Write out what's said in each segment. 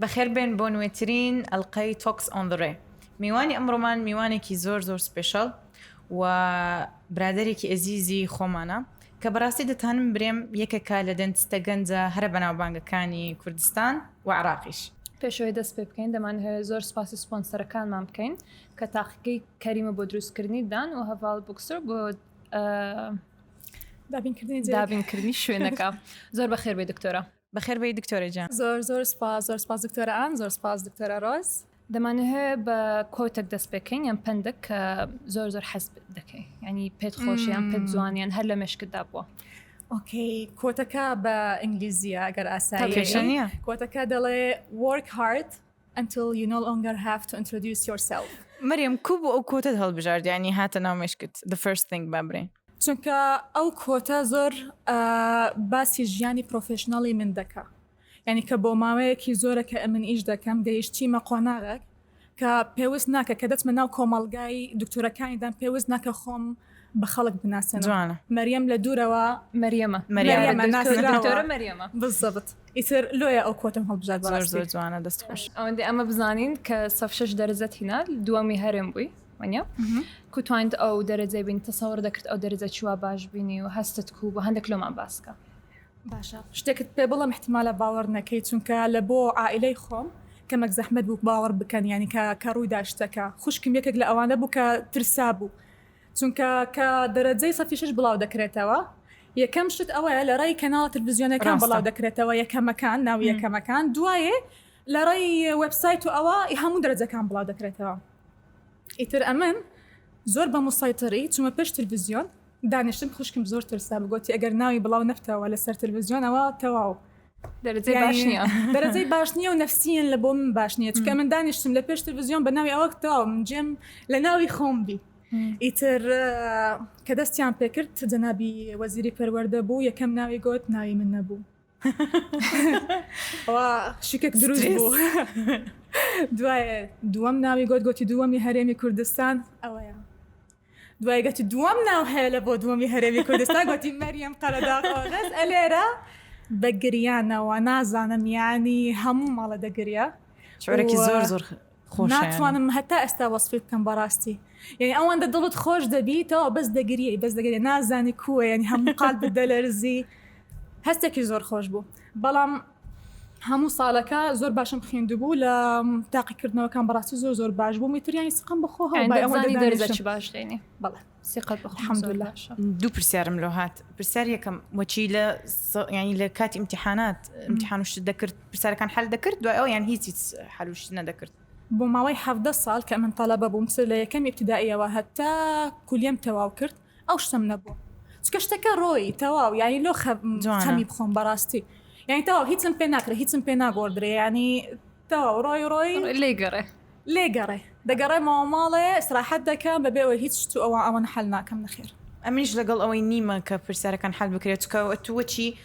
بەخێربێن بۆ نوێترین ئەلقەی تۆکس ئۆن ڕێ میوانی ئەمڕۆمان میوانێکی زۆر زۆر سپێشەڵ و برادێکی ئەزیزی خۆمانە کە بەڕاستی دەتانم برێم یەکەکە لە دەنتستە گەنجە هەرە بەناوبانگەکانی کوردستان و عراقیش. پێشەوەی دەست پێ بکەین دەمانهەوێ زۆر سوپاسی سپۆنسەرەکانمان بکەین کە تاقیگەی کەریمە بۆ دروستکردنی دان و هەڤاڵ بوکسر بۆ دابینکردنی دابینکردنی شوێنەکە زۆر بەخێر بێ دکتۆرە. بەخێر بێی دکتۆرە گیان. زۆر زۆر سوپاس زۆر سوپاس دکتۆرە ئان زۆر سوپاس دکتۆرە ڕۆز. دەمانهەوێ بە کۆتەک دەست پێکەین یان پەندەک کە زۆر زۆر حەز دەکەی ینی پێت خۆشیان پێت جوانیان هەر لە مشکتدا بووە ئۆکەی کۆتەکە بە ئینگلیزیە ئەگەر ئاساییە کۆتەکە دەڵێ وەرک هارد Until you no longer have to introduce yourself. مەریم کو بۆ ئەو کۆتت هەڵبژارد یانی هاتە ناو مشکت the first thing با برێن چونکە ئەو کۆتە زۆر باسی ژیانی پرۆفشنناڵی من دەکە یعنی کە بۆ ماوەیەکی زۆرە کە ئەمن ئیش دەکەم گەیشتیمە قۆناغێک کە پێویست ناکە کە دەچمە ناو کۆمەلگای دکتۆرەکانیدان پێویست ناکە خۆم بە خەڵک بناسێنەوە جوانە مەریەم لە دوورەوە مەریەمە مەریەمە مەریەمە ناسراوە. دکتۆرە مەریەمە بالضبط ئیتر لۆیە ئەو کۆتم هەڵبژارد زۆر بەڕاستی زۆر جوانە دەست خۆش ئەوەندە ئەمە بزانین کە سەف شش دەرەجەت هینا دووەمی هەرێم بووی وەنیە کو توانیت ئەو دەرەجەی بین تەسەوەڕ دەکرد ئەو دەرەجە چوە باش بینی و هەستت کو بۆ هەندێک لۆمان باسکە باشە شتێکت پێ بڵم احتمالە باوەڕ نەکەی چونکە لە بۆ عائلەی خۆم کەمەک زەحمت بوو باوەڕ بکەن ینی کە کە ڕووی داشتەکە خوشکم یەکێک لە ئەوانە بوو کە ترسا بوو چونکە کە دەرەجەی سەفی شەش بڵاو دەکرێتەوە یەکەم شت ئەوەیە لە ڕێی کەناڵە تلفزیۆنەکان ڕاستە. بڵاو دەکرێتەوە یەکەمەکان ناو م. یەکەمەکان دوایێ لە ڕێی وێبسایت و ئەوە ی هەموو دەرەجەکان بڵاو دەکرێتەوە ئیتر ئەمن زۆر بە موسەیتەری چوومە پێش تلفزیۆن دانیشتم خوشکم زۆر ترسا گۆتی ئەگەر ناوی بڵاو نەبتەوە لەسەر تلفزیۆن ئەوە تەواو دەرەجەی یعنی باش نییە دەرەجەی باش نییە و نفسیەن لە بۆ من باش نییە چکە من دانیشتم لە پێش تلویزیۆن بە ناوی ئەوەک تەواو من جێم لە ناوی خۆم بی ئیتر آه، کە دەستیان پێکرد جەنابی وەزیری پەروەردە بوو یەکەم ناوی گوت ناوی من نەبوو و شکێک دروست سترێس. بوو دوایە دووەم ناوی گوت گوتی دووەمی هەرێمی کوردستان ئەوەیە دوای گەتی دووەم ناو هەیە لە بۆ دووەمی هەرێمی کوردستان گوتی مەریەم قەرەداغۆنەس ئەلێرە بە گریانەوە نازانم یانی هەموو ماڵە دەگریا شعرێکی زۆر زۆر ناتوانم هەتا ئێستا وەسفی بکەم بەڕاستی یعنی ئەوەندە دڵت خۆش دەبیتەوە بەس دەگری بەس دەگری نازانی کووە یعنی هەموو قال بدەلەرزی هەستێکی زۆر خۆش بوو بەڵام هەموو سالەکە زۆر باشم خیندبوو لە تاقی کردنەوەکان بەڕاستی زۆر زۆر باش بوو میتریانی سقم بخۆ دوو پرسیارم لۆ هاات پرسیار یەکەم وەچی لە ینی لە کاتی امتحانات امتحانشت دەکرد پرسیارەکان حل دەکرد دوای ئەو یان هیچ حلوشت نەدەکرد بۆ ماوەی حەفدە سال کە من تەلەبە بووم سەر لە یەکەم ابتدائیەوە هەتا کولیەم تەواو کرد ئەو شتم نەبوو چکە شتەکە ڕۆی تەواو یانی لۆ خەمی بخۆم بەڕاستی یانی تەواو هیچم پێ ناکرێ هیچم پێ ناگۆدرێ ینی تەواو ڕۆی ڕۆی لێگەڕێ لێگەڕێ دەگەڕێ ماوەماڵێ سراحەت دەکەم بەبێەوە هیچ شت و ئەوە ئەوەن حل ناکەم نەخێر ئەمنیش لەگەڵ ئەوەی نیمە کە پرسیارەکان حل بکرێت چکەوە تووەچی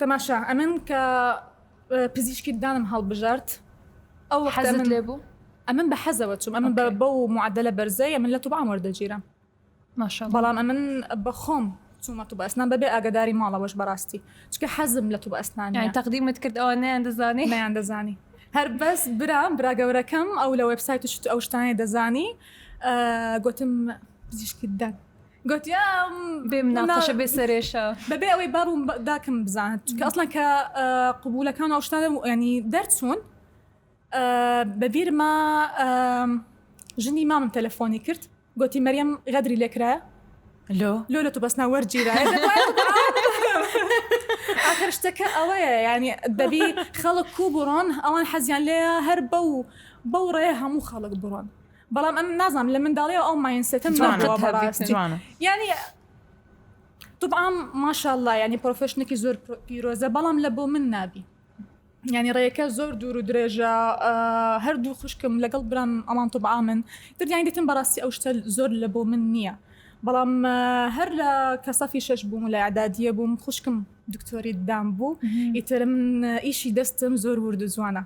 تەماشا ئەمن کە پزیشکی دانم هەڵبژارد ئەو وەختە حەزت من لێ بوو ئەمن بە حەزەوە چوم ئەمن بە ئۆکەی. بەو معدلە بەرزەی ئەمن لە توبعام وەردەگیرم ماشاءاللە بەڵام ئەمن بە خۆم چوومە توبە ئەسنان بەبێ ئاگاداری ماڵەوەش بەڕاستی چکە حەزم لە توبە یعنی ئەسنانە تەقدیمت کرد ئەوان نەیان دەزانی نیان دەزانی هەر بەس برام برا گەورەکەم ئەو لە وێبسایت و شت ئەو شتانەی دەزانی ئا، گۆتم پزیشکی ددان گۆتی ئەم بێ مناقەشە بێ سەرێشە بەبێ ئەوەی باب و داکم بزانن چونکە ئەسڵەن کە قبولەکان ئەو شتانە ینی دەرچوون بەبیرما ژنی مامم تەلەفۆنی کرد گۆتی مەریەم غەدری لێکرایە لۆ لۆ لە تو بەسنا وەرگیرایە ئاخر شتەکە ئەوەیە ینی دەبی خەڵک کو بڕۆن ئەوان حەزیان لێە هەر بەو بەو ڕێ هەموو خەڵک بڕۆن بەڵام ئەم نازانم لە منداڵیەوە ئەو ماینسێتم نەبووە بەڕاستی یعنی طبعا ماشاءالله یعنی پرۆفشنێکی زۆر پیرۆزە بەڵام لە بۆ من نابی ینی ڕێەکە زۆر دوور و درێژە هەردوو خوشکم لەگەڵ برام ئەمان طبعا من دەیان دەتم بەڕاستی ئەو شتە زۆر لە بۆ من نییە بەڵام هەر لە کەسەفی شش بووم لە عدادیە بووم خوشکم دکتۆری دام بوو ئیتر من ئیشی دەستم زۆر وردو جوانە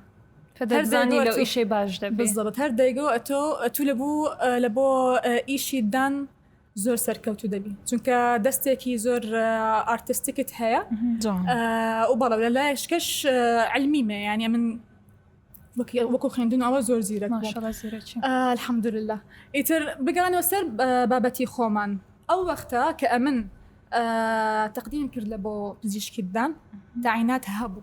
هەر دەیگۆ ئەتۆ ئەتوو لە بوو لە بۆ ئیشی دان زۆر سەرکەوتو دەبی چونکە دەستێکی زۆر ئارتستیکت هەیە و بەڵە لە لایشکەش علمی مێ یانە من وەکو خوێندن ئەوە زۆر زیرە الحەمدلله ئیتر بگەڕانەوە سەر بابەتی خۆمان ئەو وەختە کە ئەمن تەقدیم کرد لە بۆ پزیشکیدان داعینات هەبوو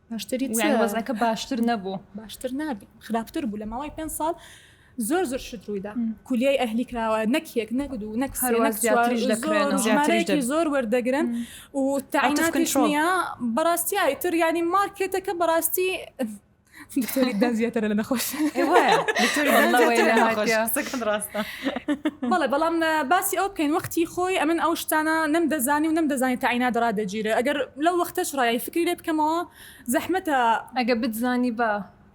باشتری وەزەکە باشتر نەبوو باشتر نابی خراپتر بوو لە ماوەی پێ ساڵ زۆر زۆر شت ڕوویدا کولیای ئەهلی کراوە نەکێک نەگد و نەک زۆر وەردەگرن و تاکنشنە بەڕاستیایی تر ینی مارکێتەکە بەڕاستی دکتۆری دەنجێتەرە لە نەخۆش ڕاستە بەڵێ بەڵام باسی ئەو بکەین وەختی خۆی ئەمن ئەو شتانە نەم دەزانی و نەم دەزانانی تاعینا دەڕا دەگیرە ئەگەر لەو وەختەش ڕای فکری لێ بکەمەوە زەحمەتە ئەگە بتزانی بە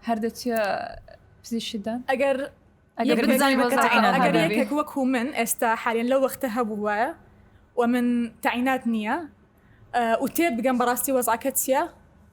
هەردەچە پزیشدا ئەگەر ئەگەرێک وەکو من ئێستا حالێن لەو وەختە هەبوو وایە و من تاعینات نییە و تێ بگەم بەڕاستی وەزعکە چیە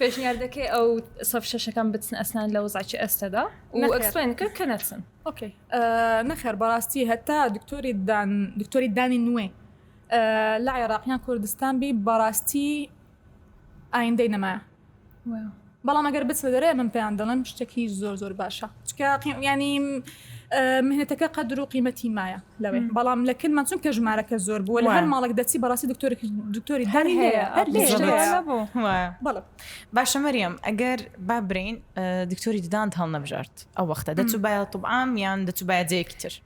پێشنیاردەکەی ئەو سەف شەشەکان بچن ئەسنان لە وزعکی ئەستەدا وەکسێن کرد کە نەچن نەخێر بەڕاستی هەتا دکتۆری دان دکتۆری دانی نوێ لە عێراقیان کوردستان بی بەڕاستی ئایندەی نەما بەڵام ئەگەر بچنە دەرێ من پێیان دەڵێن شتێکی زۆر زۆر باشە چکە ینی مهنەتەکە قەدر و قیمەتی مایە لەوێ بەڵام لە کلمان چون کە ژمارەکە زۆر بووە لە هەر ماڵک دەچی بەڕاستی دکتۆری دکتۆری هەر هەیە باشە مەریەم ئەگەر با برین دکتۆری ددان هەڵ نەبژارد ئەو وەختە دەچوو باە طبعام یان دەچوو باە جەیەکی تر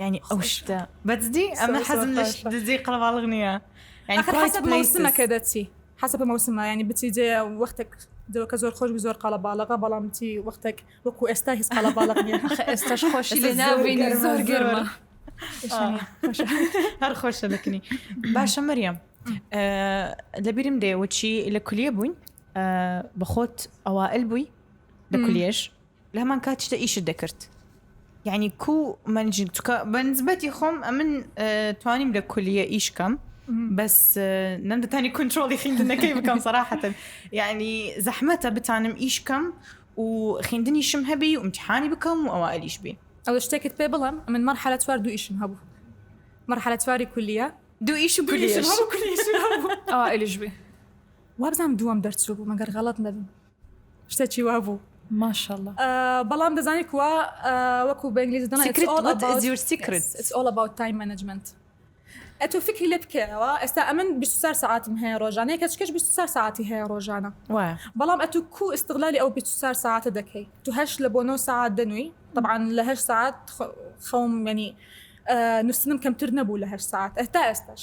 ینی ئەو شتە بەجدی ئەمە حەزم لە دزی قەڵەواڵغ نییە حەسەمەکە دەچی حەسە مەوسمە ینی بچی جێ وەختێک دەوەکە زۆر خۆش زۆر قاڵە باڵەغا بەڵام چی وەختێک وەکو ئێستا هیچ قاڵە باڵق نیە ئێستاش خۆشی لێ ناوێنی زۆر گەرمە هەر خۆشە دەکنی باشە مەریەم لەبیرم دێوەچی لە کولیە بووین بەخۆت ئەوائل بووی لە کولیێش لە هەمان کاتیشدا ئیشت دەکرد یعنی کو من چکە بەنسبەتی خۆم ئەمن توانیم لە کولیە ئیش کەم بەس نەمدەتانی کنترۆڵی خیندنەکەی بکەم سەراحەتن یعنی زەحمەتە بتانم ئیش کەم و خیندنی شم هەبی و امتحانی بکەم و ئەوە ئەلیش بی ئەو شتێکت پێ بڵم من مەرحەلە چوار دوو ئیشم هەبوو مەرحەلە چواری کولیە دوو ئیش و ئەلیش بی وابزانم دووەم دەرچوو بوو مەگەر غەڵت نەبم شتە چی وا بوو ماشەڵە بەڵام دەزانانی کوا وەکو بەنگلیزی دەڵێن Secret what is your secret it's all about time management ئەتۆ فکری لێ بکەیەوە ئێستا ئەمن 24 ساعتم هەیە ڕۆژانەیە کە چکەش 24 ساعتی هەیە ڕۆژانە بەڵام ئەتو کو استغلالی ئەو 24 ساعتە دەکەی تو هەش لە بۆ 9 ساعت دەنووی طبعاان لە هەش ساعت خەوم مەنی نووسنم کەمتر نەبوو لە هەش ساعت ئەتا ئێستاش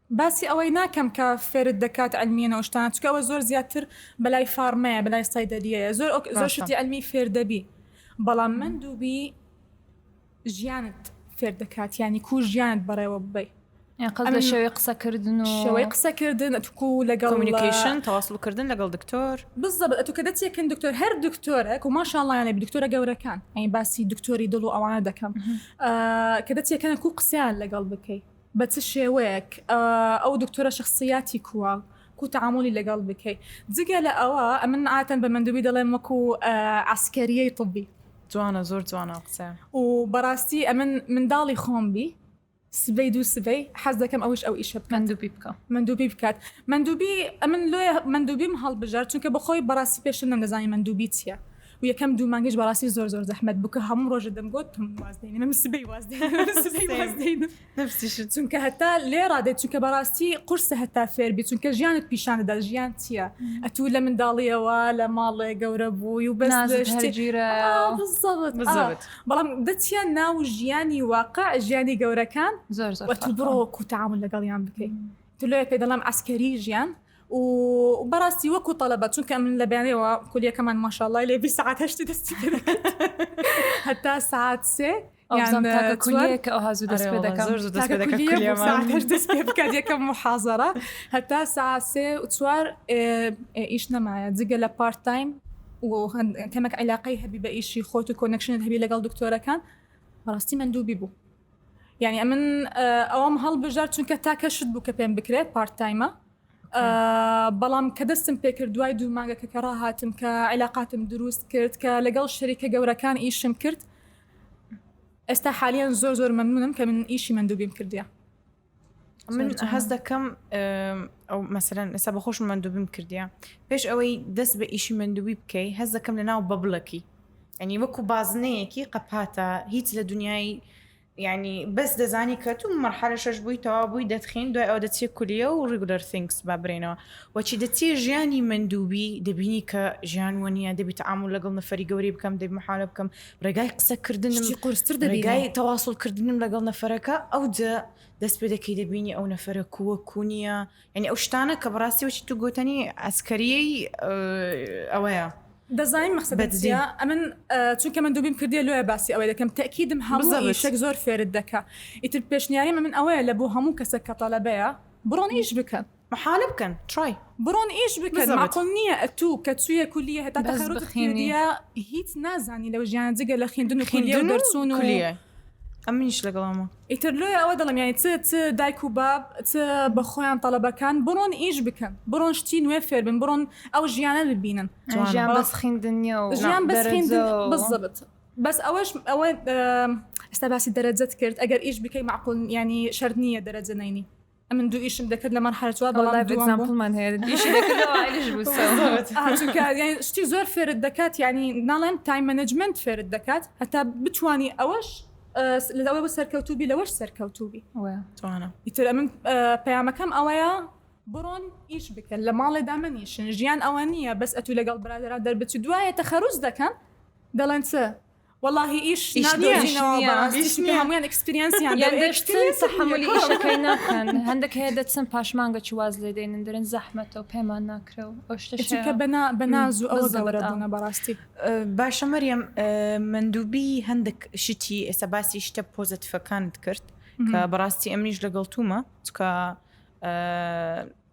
باسی ئەوەی ناکەم کە فێرت دەکات علمیەن و شتانە چونکە ئەوە زۆر زیاتر بەلای فارمەیە بەلای سەیدەلیەیە زۆر ئۆک زۆر شتی علمی فێر دەبی بەڵام مندوبی ژیانت فێر دەکات یانی کو ژیانت بەڕێوە ببەی قەزە ئەمن- شێوەی قسەکردن و شێوەی قسەکردن ئەتوکو لەگەڵ کۆمونیکیشن تەواصل کردن لەگەڵ دکتۆر بالضبط ئەتو کە دەچێکن دکتۆر هەر دکتۆرەک و ماشاءاللە لە دکتۆرە گەورەکان ئەین باسی دکتۆری دڵ و ئەوانە دەکەم آه، کە دەچێکن کو قسەیان لەگەڵ بکەی بە چ شێوەیەک ئەو دکتۆرە شەخسیاتی کووە کو تەعامولی لەگەڵ بکەی جگە لە ئەوە ئەمن عاتەن بە مەندوبی دەڵێم وەکو عسکەریەی طبی جوانە زۆر جوانە قسە و بەڕاستی ئەمن منداڵی خۆم بی سبەی دوو سبەی حەز دەکەم ئەوش ئەو ئیشە بکەن مەندوبی بکە مەندوبی بکات مەندوبی ئەمن لۆیە مەندوبیم هەڵبژار چونکە بەخۆی بەڕاستی پێشتر نەمدەزانی مەندوبی چیە و یەکەم دوو مانگیش بەڕاستی زۆر زۆر زەحمەت بوو کە هەموو ڕۆژە دەمگوت تم واز دێنم سبەی واز دێنم، سبەی واز دێنم. نەفسیشت. چونکە هەتا لێڕا دێت چونکە بەڕاستی قورسە هەتا فێر بیت چونکە ژیانت پیشان دەدات ژیان چییە ئەتوو لە منداڵییەوە لە ماڵێ گەورە بووی و بەس نازت شتێ هەرگیرە بالضبط بالضبط. ئا بەڵام دەچیە ناو ژیانی واقع ژیانی گەورەکان زۆر زۆر و ئەتوو فەرقە. بڕۆ وەکوو تەعامول لەگەڵیان بکەی تۆ لۆیە پێ دەڵێم عەسکەری ژیان و بەراستی وەکو تەلەبە چونکە ئەمن لە بەیانەوە کولیەکەمان ماشاءاللە لێ بی سعات هەشتی دەستی هەتا سعات سێ بکات یەکەم محازرە هەتا ساسێ چوار ئیش نەمایە جگە لە پارت تایم کەمەک عیلاقی هەبی بە ئیشی خۆت و کۆنەکشنت هەبی لەگەڵ دکتۆرەکان بەڕاستی من دووبی بوو یعنی ئەمن ئەوم هەڵبژار چونکە تاکە شت بوو کە پێم بکرێ پارت تایمە بەڵام کە دەستم پێکرد دوای دوو مانگەکە کە ڕاهاتم کە عیلااقاتم دروست کرد کە لەگەڵ شەریکە گەورەکان ئیشم کرد ئێستا حالیان زۆر زۆر مەمنونم کە من ئیشی مندوبیم کردیە من هەز دەکەم ئەو مەسەرەن ئێستا بە خۆش مندوبم کردیا پێش ئەوەی دەست بە ئیشی مندوبی بکەی هەز دەکەم لە ناو بەبلەکی ئەنی وەکو بازنەیەکی قەپاتە هیچ لە دنیای ینی بەس دەزانی کە تو مەرحەلە شەش بووی تەوا بووی دەتخین دوای ئەو دەچێت کولیە و ڕیگولەر سنگس با برێنەوە وەچی دەچێ ژیانی مندوبی دەبینی کە ژیان وە نیە دەبیت ئامور لەگەڵ نەفری گەوری بکەم دەبی محالە بکەم ڕێگای قسە کردنم قرستر دەگای تەواسڵ کردنم لەگەڵ نەفرەکە ئەو دەست پێ دەکەی دەبینی ئەو نەفرە کووە کونیە یعنی ئەو شتانە کە بەڕاستی وچی تو گوتنی ئەسکەریەی ئەوەیە دەزانین مەخسە بەدزیا ئەمن چونکە من دوبیم کردی لۆە باسی ئەوەی دەکەم تاکیدم هەموو شک زۆر فێرت دەکە ئیتر پێشنیاری من ئەوەیە لە بۆ هەموو کەسە کە تەلەبەیە بڕۆن ئیش بکەن محالە بکەن تڕای بڕۆن ئیش بکەن ماقول نیە ئەتو کە چویە کولیە هەتا تەخەروجت کردیە هیچ نازانی لە ژیان جگە لە خویندن و خولیە و دەرچون و ئەمنیش لەگەڵامە ئیتر لۆیە ئەوە دەڵم یانی چ چ دایک و باب چ بە خۆیان تەڵەبەکان بڕۆن ئیش بکەن بڕۆن شتی نوێ فێر بن بڕۆن ئەو ژیانە ببینن ژیان بەس خویندن نیە و ژیان بەس خویندن بزبط بەس ئەوەش ئەوە ئێستا باسی دەرەجەت کرد ئەگەر ئیش بکەی معقول ینی شەرت نییە دەرەجە نەینی ئەمن دوو ئیشم دەکرد لە مەرحەلە چوار بەڵام لایڤ دووەم بووم. ئێگزامپڵمان هەیە ئیشی دەکردەوە ئایلش بوو سەوت. ئا چونکە یانی شتی زۆر فێرت دەکات یانی ناڵێم تایم مەنەجمەنت فێرت دەکات هەتا بتوانی ئەوەش ئە لە ئەوە بە سەرکەوتوو بی لەوەش سەرکەوتوو بی. وە. جوانە. ئیتر ئەمن ئە پەیامەکەم ئەوەیە بڕۆن ئیش بکەن لە ماڵێدا مەنیشن ژیان ئەوە نییە بەس ئەتوو لەگەڵ برادەران دەربچی دوایێ تەخەروج دەکەن دەڵێن چ وەڵاهی ئیش نادۆزینەوە بەڕاستی چونکە هەموویان ئێکسپریەنسیان یان دەچن تەحەمولی ئیشەکەی ناکەن هەندێک هەیە دەچن پاشمانگە چ واز لێ دێنن دەرن زەحمەتە و پێمان ناکرێ و ئەو شتە چونکە بەنا بە ناز و ئەوە گەورە بوونە بەڕاستی باشە مەریەم مندوبی هەندێک شتی ئێستا باسی شتە پۆزەتیفەکانت کرد کە بەڕاستی ئەمنیش لەگەڵ تومە چکە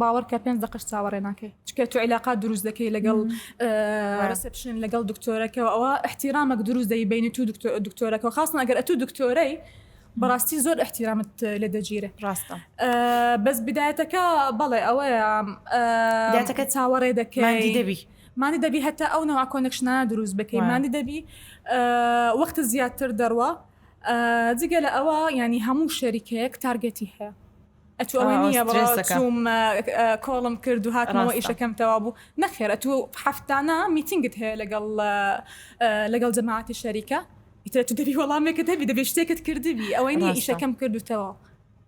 باوەڕکە پێنج دەقەش چاوەڕێ ناکەی چکە تو عیلاقات دروست دەکەی لەگەڵ ڕسپشن لەگەڵ دکتۆرەکەەوە ئەوە احتیرامەک دروست دەی بینی تو دکتۆرەکە خاستن ئەگەر ئەتو دکتۆرەی بەڕاستی زۆر احتیرامت لە دەگیرە ڕاستە بەس بدایەتەکە بەڵێ ئەوەیە داتەکە چاوەڕێ دەکەی دەبی مانی دەبی هەتا ئەو نەوە کۆنکشنا دروست بکەی مانی دەبی وەخت زیاتر دەڕوە جگە لە ئەوە ینی هەموو شەریکەیەک تارگەتی هەیە ئەتوو ئەوەی نییە بەڵاوچووم کۆڵم کرد و هاتمەوە ئیشەکەم تەوا بوو نەخێر ئەتوو هەفتانە میتینگت هەیە لەگەڵ لەگەڵ جەماعاتی شەریکە ئیتر تو دەبی وەڵامێکە دەبی دەبێ شتێکت کردبی ئەوەی نیە ئیشەکەم کردوتەوە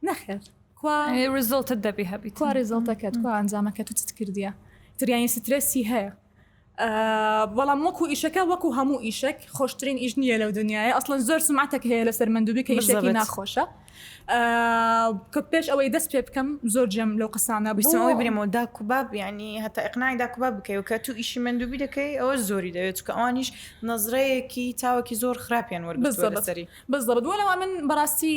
نەخێر کوزۆڵتت دەبی هەبی کوا ریزۆڵتەکەت کوا ئەنجامەکە تو چت کردیە تریانی سترێسی هەیە بەڵام وەکو ئیشەکە وەکو هەموو ئیشێک خۆشترین ئیش نییە لەو دنیاە ئەسڵەن زۆر سمعاتێک هەیە لەسەر مندوبی کە ئیشەکە ناخۆشە کە پێش ئەوەی دەست پێ بکەم زۆر جێم لەو قسانە بسەوەی برێمەوە داکوباب ینی هەتا ئەقنای داکوباب بکەی و کە تو ئیشی مندوبی دەکەی ئەوە زۆری دەوێت چکە ئەوانیش نەزرەیەکی چاوەکی زۆر خراپیان وەربەری بزڵ من بەڕاستی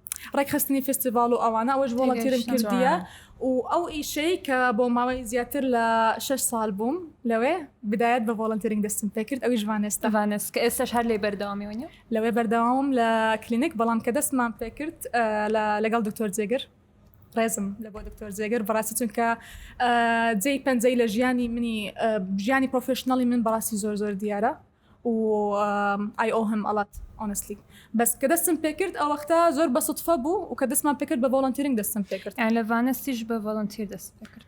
ڕێکخستنی فستیڤاڵ و ئەوانە ئەوەش بۆڵەتیرم کردیە و ئەو ئیشەی کە بۆ ماوەی زیاتر لە 6 سال بووم لەوێ بدایەت بە ڤۆڵنترینگ دەستم پێکرد ئەوی ژوانێستەوانست کە ئێستش هەر لێ بەردەوامیونی لەوێ بەردەوام لە کلینک بەڵام کە دەستمان پێکرد لەگەڵ دکتۆر جێگر ڕێزم لە بۆ دکتۆر جێگر بڕاستی چونکە جێی پەنجەی لە ژیانی منی ژیانی پرۆفشننەڵی من بەڕاستی زۆر زۆر دیارە وای ئۆهم ئەڵات ئۆنسلی بەس کە دەستم پێکرد ئەوەختە زۆر بە سوتفە بوو و کە دەستمان پێکرد بە ڤۆڵنتیرنگ دەستم پێکرد یان لە ڤانەسیش بە ڤۆڵنتیر دەست پێکرد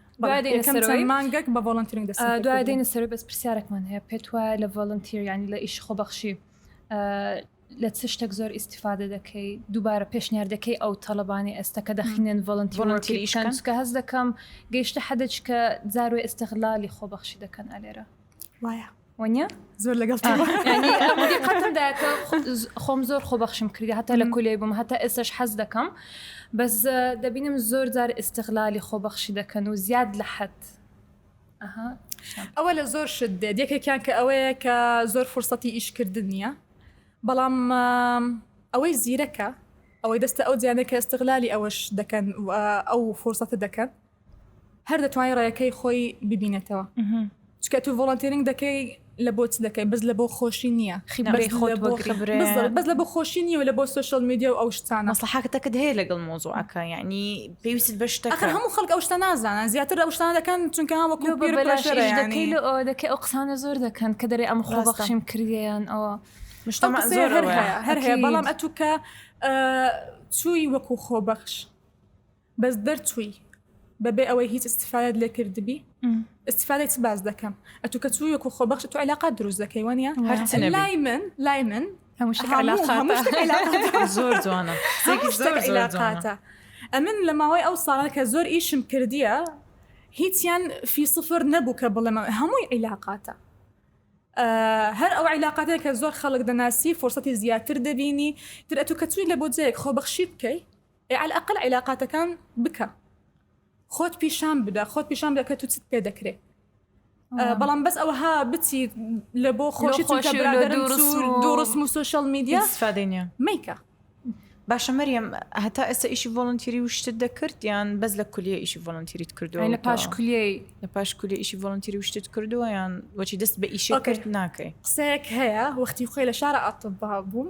مانگەک بە ڤۆڵنتیرنگ دەست دوای دێنە سەر بەس پرسیارێکمان هەیە پێت وایە لە ڤۆڵنتیر ینی لە ئیش خۆبەخشی لە چ شتێک زۆر ئیسیفادە دەکەی دووبارە پێشنیاردەکەی ئەو تەڵەبانی ئێستا کە دەخینێن ڤۆڵنتیشکە هەز دەکەم گەیشتە حەدەچکە زارۆی ئێستەغلالی خۆبەخشی دەکەن ئەلێرە وایە وەنیە زۆر لەگەڵ خۆم زۆر خۆ بەخشم کردی هەتا لە کولێ بووم هەتا ئێستش حەز دەکەم بەس دەبینم زۆر جار ئستغلالی خۆ بەخشی دەکەن و زیاد لە حەت ئەوە لە زۆر شت دێت یەکێکیان کە ئەوەیە کە زۆر فرسەتی ئیشکردن نییە بەڵام ئەوەی زیرەکە ئەوەی دەستە ئەو جیانێک کە ئستغلالی ئەوەش دەکەن ئەو فرسەتە دەکەن هەر دەتوانانی ڕێەکەی خۆی ببینێتەوە چکە تو ڤۆڵنتێننگ دەکەی لە بۆچ دەکەی بەس لە بۆ خۆشی نییە خیبرەی خۆ بەس لە بۆ خۆشی نیە لە بۆ سوشل میدیا و ئەو شتانە سەحاکتەکەت هەیە لەگەڵ مۆزوعەکە یعنی پێویست بە شتەکە هەموو خەڵک ئەو شتە نازانە زیاتر ئەو شتان دەکەن چونکە هەوەکو دەکەی لە ئەو دەکەی ئەو قسانە زۆر دەکەن کە دەرێ ئەم خۆ بەخشیم کردیان ئەوە مشتمە زۆر هەر هەیە بەڵام ئەتوکە چووی وەکو خۆبەخش بەس دەرچووی بەبێ ئەوەی هیچ استفادەت لێ کردبی استفادەی چ باز دەکەم ئەتو کە چووی وەکو خۆ بەخش تو علاقات دروست دەکەی وانە لای من لای من زۆر جوانە علاقاتە ئەمن لە ماوەی ئەو ساڵە کە زۆر ئیشم کردیە هیچیان فی سفر نەبوو کە بڵێمە هەمووی عیلاقاتە هەر ئەو عیلاقاتێک کە زۆر خەڵک دەناسی فرسەتی زیاتر دەبینی ترەتو کە چووی لە بۆ جەیەک خۆبەخشی بکەی ئێ عەلەقەل عیلاقاتەکان بکە خۆت پیشان بدە خۆت پیشان بدە کە تو چت پێ دەکرێ بەڵام بەس ئەوها بچی لە بۆ خۆشی چونکە برادەرم دوو ڕسم و سوشل میدیا سفادێنە میکە باشە مەریەم هەتا ئێستا ئیشی ڤۆڵنتیری و شتت دەکرد یان بەس لە کولیە ئیشی ڤۆڵنتیریت کردو لە پاش کولی لە پاش کولی ئیشی ڤۆڵنتیری و شتت کردووە یان وەچی دەست بە ئیشی کرد ناکەی قسەیەک هەیە وەختی خۆی لە شارە ئاتبا بووم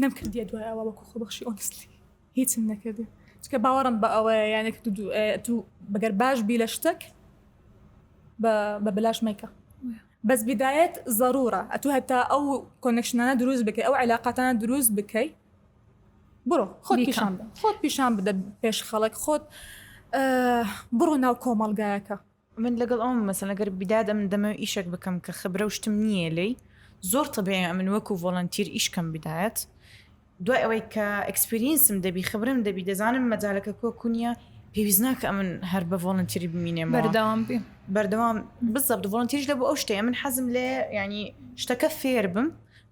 نەم کردیە دوای ئەوە وەکو خۆ بەخشی ئۆنسلی هیچم نەکردێ چکە باوەڕم بە ئەوە یانێک تو بەگەر باش بی لە شتێک بە بەلاش مەیکە بەس بدایەت ضرورە ئەتو هەتا ئەو کۆنکشنانە دروست بکەی ئەو علااقاتانە دروست بکەی بڕۆ خۆت پیشان خۆت پیشان بدە پێش خەڵک خۆت بڕۆ ناو کۆمەڵگایەکە من لەگەڵ ئەوم مەسەلەن گەر بیداد ئەمن دەمەوێ ئیشەک بکەم کە خبرە و شتم نییە لێی زۆر تەبیعی ئەمن وەکوو ڤۆڵەنتیر ئیش کەم بیدایەت دوای ئەوەی کە ئێکسپریەنسم دەبی خبرەم دەبی دەزانم مەجالەکە کۆ کوو نییە پێویست ناکە ئەمن هەر بە ڤۆڵەنتیری بمینێمەوە بەردەوام بیم بەردەوام بزەبت ڤۆڵەنتیریش لە بۆ ئەو شتەیە من حەزم لێ یعنی شتەکە فێر بم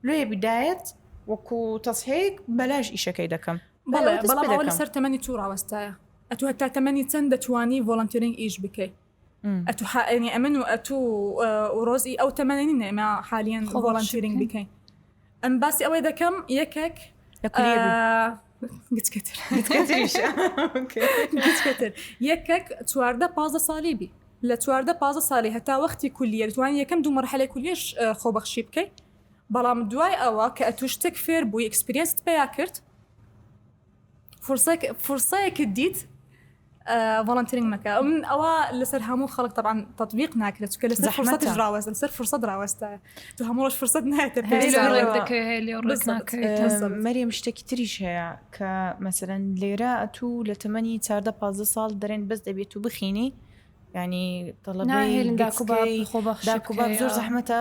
لێ بیدایەت وەکوو تەسهیک بەلاش ئیشەکەی دەکەم بەڵێ بەڵام ئەوە لەسەر تەمەنی تو ڕاوەستایە ئەتوو هەتا تەمەنی چەند دەتوانی ڤۆڵەنتیرینگ ئیش بکەی ئەتوو حائێنی ئەمن و ئەتوو و ڕۆزی ئەو تەمەنی نێمە حالیان ڤۆڵەنتیرینگ بکەین ئەم باسی ئەوەی دەکەم یەکێک گچکەتر یەکێک چواردە پازە ساڵی بی لە چواردە پازە ساڵی هەتا وەختی کولیە توان یەکەم دوو مەرحەلە کولیش خۆبەخشی بکەیت بەڵام دوای ئەوە کە ئەتوو شتێک فێر بووی ئەکسپرینست پیا کرد فرسەیەکت دیت ڤڵنترین مەکە من ئەوە لەسەر هەموو خەڵک طبعاان تطببیق ناکرێت چکە لەسەر فرسەت ڕاوەز لەسەر فرسە ڕاوەستە تو هەمووش فرسەت نایێتە مەریم شتێکی تریش هەیە کە مەسەرەن لێرە ئەتو لە تەمەنی چاردە پ ساڵ دەرێن بەس دەبێت و بخینی ینی تەڵەبێ خۆ زۆر زەحمەتە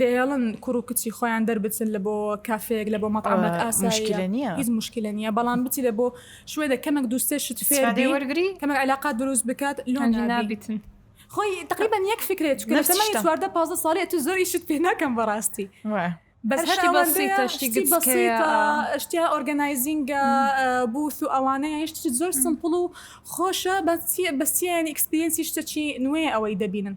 دەیەڵن کوڕ و کچی خۆیان دەربچن لە بۆ کافێیەک لە بۆ مەتعەمەک ئاساییە هیچ موشکیلە نییە بەڵام بچی لە بۆ شوێنێک کەمێک دوو سێ شت فێر بی وەرگری کەمێک عەلاقات دروست بکات لۆ نابیتن خۆی تقریبا یەک فکرێت چونکە لە تەمەنی چواردە پازدە ساڵی ئەتوو زۆر ئیشت پێ ناکەم بەڕاستی بەس هەر شتی بەسیتە شتی گچکەیە. بەسیتە شتیا ئۆرگەنایزینگە بوث و ئەوانەیە یعنی شتێکی زۆر سمپڵ و خۆشە بەس چییە بەس چییە یعنی ئێکسپریەنسی شتەکی نوێ ئەوەی دەبینن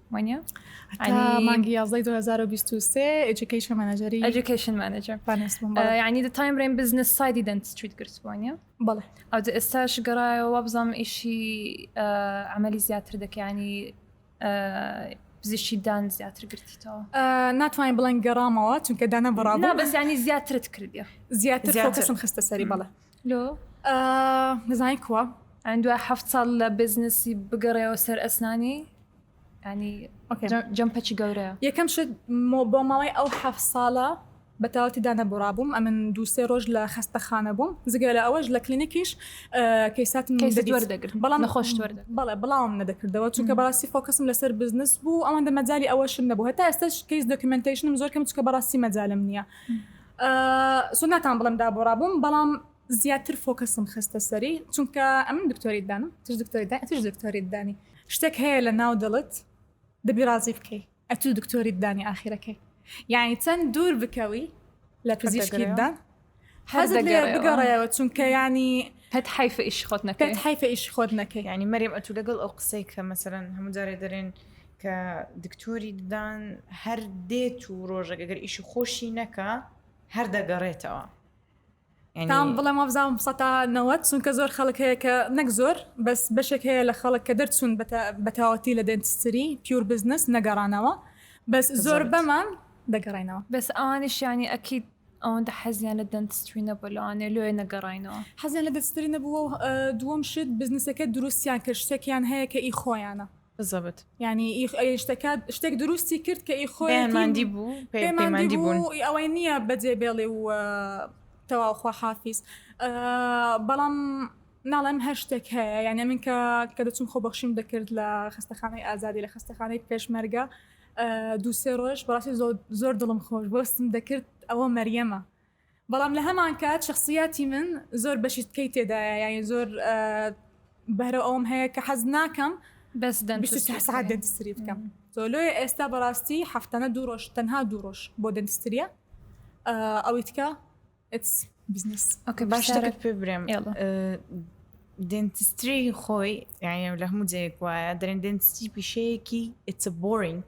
وانە مانگی یازدەی 2023 ئەجوکیشن مانەجەری ئەجوکیشن مانەجەر ینی دە تایم برێن بزنس سایدی دەنت ستریت گرتوانە بەڵێ ئەو ئێستاش گەڕایەوە بزانام ئیشی ئەمەلی زیاتر دەکەیانی پزیشی دان زیاتر گرتیتەوە ناتوانین بڵێن گەڕامەوە چونکە دانە بڕابوو بەزیانی زیاترت کردی زیاتر خستە سەری بەڵە لۆ دەزانی کووە ئەن دوای هەفت ساڵ لە بزنسی بگەڕێەوە سەر ئەسنانی جەم پەچی گەورەیە یەکەم شت بۆ ماوەی ئەو حەف ساڵە بەتاوەتی دانەبڕا بووم ئەمن دووسێ ڕۆژ لە خستەخانە بووم زگە لە ئەوەش لە کلینیکیش کەیسات دەگرت بەڵام نەخۆش بەڵێ بڵاوم نەدەکردەوە چونکە بەڕاستی فۆکەسم لەسەر بزنس بوو ئەوەندە مەجای ئەوەشم نەبوو هەتا ئێستش کەیس دۆکیمنتیشنم زۆر کەم چکە بەڕاستی مەجالم نییە. سو ناتان بڵێم دابۆ ڕابووم بەڵام زیاتر فۆکەسم خستە سەری چونکە ئەمن دکتۆری دانم تش دکتۆری دا تش دکتۆری دانی شتێک هەیە لە ناو دڵت دەبی ڕازی بکەی ئەتو دکتۆری دانی ئاخیرەکەی یعنی چەند دوور بکەوی لە پزیشکیدا حەز بگەڕێەوە چونکە ینی پێت حیف ئیش خۆت نەکەێت حیف ئیش خۆت نەکەی ینی مەریم ئەتو لەگەڵ ئەو قسەی کە مەسەرەن هەموو جارێ دەرێن کە دکتۆری ددان هەر دێت و ڕۆژێک گەر ئیشی خۆشی نەکا هەر دەگەڕێتەوە تام بڵێ مابزانام سەتا نەوە چونکە زۆر خەڵک هەیە کە نەک زۆر بەس بەشێک هەیە لە خەڵک کە دەرچوون بەتاوەتی لە دەنتستری پیور بزنس نەگەڕانەوە بەس زۆر بەمان دەگەڕێنەوە بەس ئەوانیشیانی ئەکییت ئەوەندە حەزیان لە دەنتستری نەبوو لەوانێ لۆێ نەگەڕینەوە حەزیان لە دەستری نەبووە دووەم شت بزنسەکە دروستیان کرد شتێکیان هەیە کە ئی خۆیانە بزەبت یعنی ئی ئەی شتەکە شتێک دروستی کرد کە ئی خۆی پێیان ماندی بوو پێیان پێیان ماندی ماندی بوون بوو ئی ئەوەی نییە بەجێ بێڵێ و تەواو خواحافیز ئا، بەڵام ناڵێم هەر شتێک هەیە یعنی من کە کە دەچووم خۆبەخشیم دەکرد لە خەستەخانەی ئازادی لە خەستەخانەی پێشمەرگە ئا، دوو سێ ڕۆژ بەڕاستی زۆر زۆر دڵم خۆش بوو هەستم دەکرد ئەوە مەریەمە بەڵام لە هەمانکات شەخسیاتی من زۆر بەشی تکەی تێدایە یانی زۆر بەرە ئەوم هەیە کە حەز ناکەم بەس سعات دەنتستری بکەم زۆلۆی ئێستا بەڕاستی هەفتانە دوو ڕۆژ تەنها دوو ڕۆژ بۆ دەنتستریە ئەوەی تکە بزنس ئۆکە باش دەکرد پێ برێم دنتستری خۆی یعنی لە هەموو جەیەک وایە دەرێن دنتستی پیشەیەکی ئتس بۆرینگ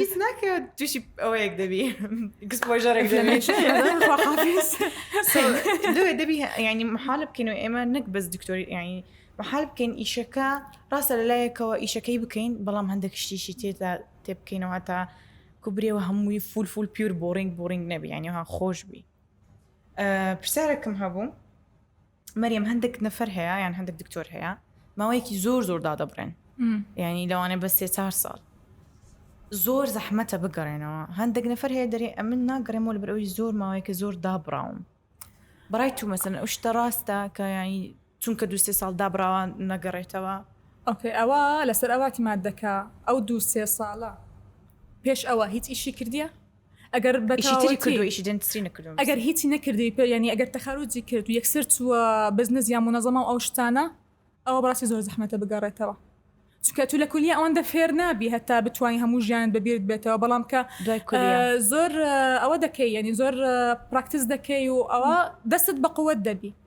هیچ ناکە تووشی ئەوەیەک دەبی گسپۆژەرێک لەوێ دەبی ینی محالە بکەین و ئێمە نەک بەس دکتۆری ینی محال بکەین ئیشەکە ڕاستە لە لایەکەوە ئیشەکەی بکەین بەڵام هەندێک شتیشی تێدا تێ بکەینەوە تا کوبرێەوە هەمووی فول فول پیور بۆڕینگ بۆڕینگ نەبی ینیها خۆش بی پرسیارێکم هەبوو مەریەم هەندێک نەفەر هەیە یان هەندێک دکتۆر هەیە ماوەیەکی زۆر زۆر دادەبڕێن ینی لەوانێ بە سێ چهار ساڵ زۆر زەحمەتە بگەڕێنەوە هەندێک نەفەر هەیە دەرێ ئەمن ناگەڕێمەوە لە بەرەوەی زۆر ماوەیەکە زۆر دابراوم بڕای تو مەسن ئەو شتە ڕاستە کە ینی چونکە دو سێ ساڵ دابراوە نەگەڕێتەوە ئۆکەی ئەوە لەسەر ئەواتی مادەکە ئەو دو سێ ساڵە پێش ئەوە هیچ ئیشی کردیە ئەگەر بەتەواوەتی ئەگەر هیچی نەکردی پێ یعنی ئەگەر تەخەروجی کرد و یەکسەر چووە بزنس یا منەزەما و ئەو شتانە ئەوە بەڕاستی زۆر زەحمەتە بگەڕێتەوە چونکە تو لە کولیە ئەوەندە فێر نابی هەتا بتوانانی هەموو ژیانت بەبیرت بێتەوە بەڵام کە دوای کولیە ئە، زۆر ئەوە دەکەی یعنی زۆر پراکتس دەکەی و ئەوە دەستت بە قوت دەبی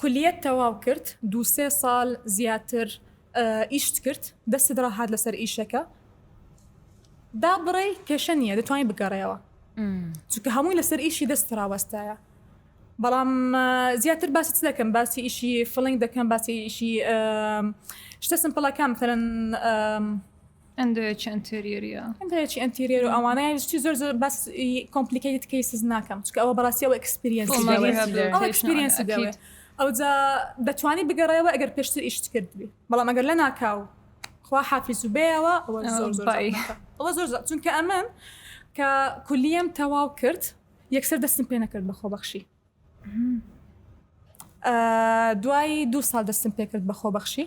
کولیەت تەواو کرد دوو سێ سال زیاتر ئیشت کرد دەستت راهات لەسەر ئیشەکە دا بڕێی کێشە نیە دەتوانی بگەڕێەوە چونکە هەمووی لەسەر ئیشی دەست راوەستایە بەڵام زیاتر باسی چ دەکەم باسی ئیشی فڵنگ دەکەم باسی ئیشی شتە سمپڵەکان مثلەن ئەندۆیەکی ئەنتێریەریە ئەندۆیەکی ئەنتێریەر و ئەوانە یان شتی زۆر زۆر بەس کۆمپلیکەیت کەیسز ناکەم چکە ئەوە بەڕاستی ئەوە ئەکسپریەنس تۆماری دەوێت ئەوە ریهابلیتەیشن ئەکسپریەنس ئەکید دەوێت ئەو جا دەتوانی بگەڕێەوە ئەگەر پێشتر ئیشت کرد بی بەڵام ئەگەر لە ناکاو خوا حافیز و بێەوە ئەوە ئەوە زۆر زۆر بای. زەحمەتە. ئەوە زۆر زە- چونکە ئەمن کە کولیەم تەواو کرد یەکسەر دەستم پێ نەکرد بە خۆبەخشی ئا، دوای دوو ساڵ دەستم پێ کرد بە خۆبەخشی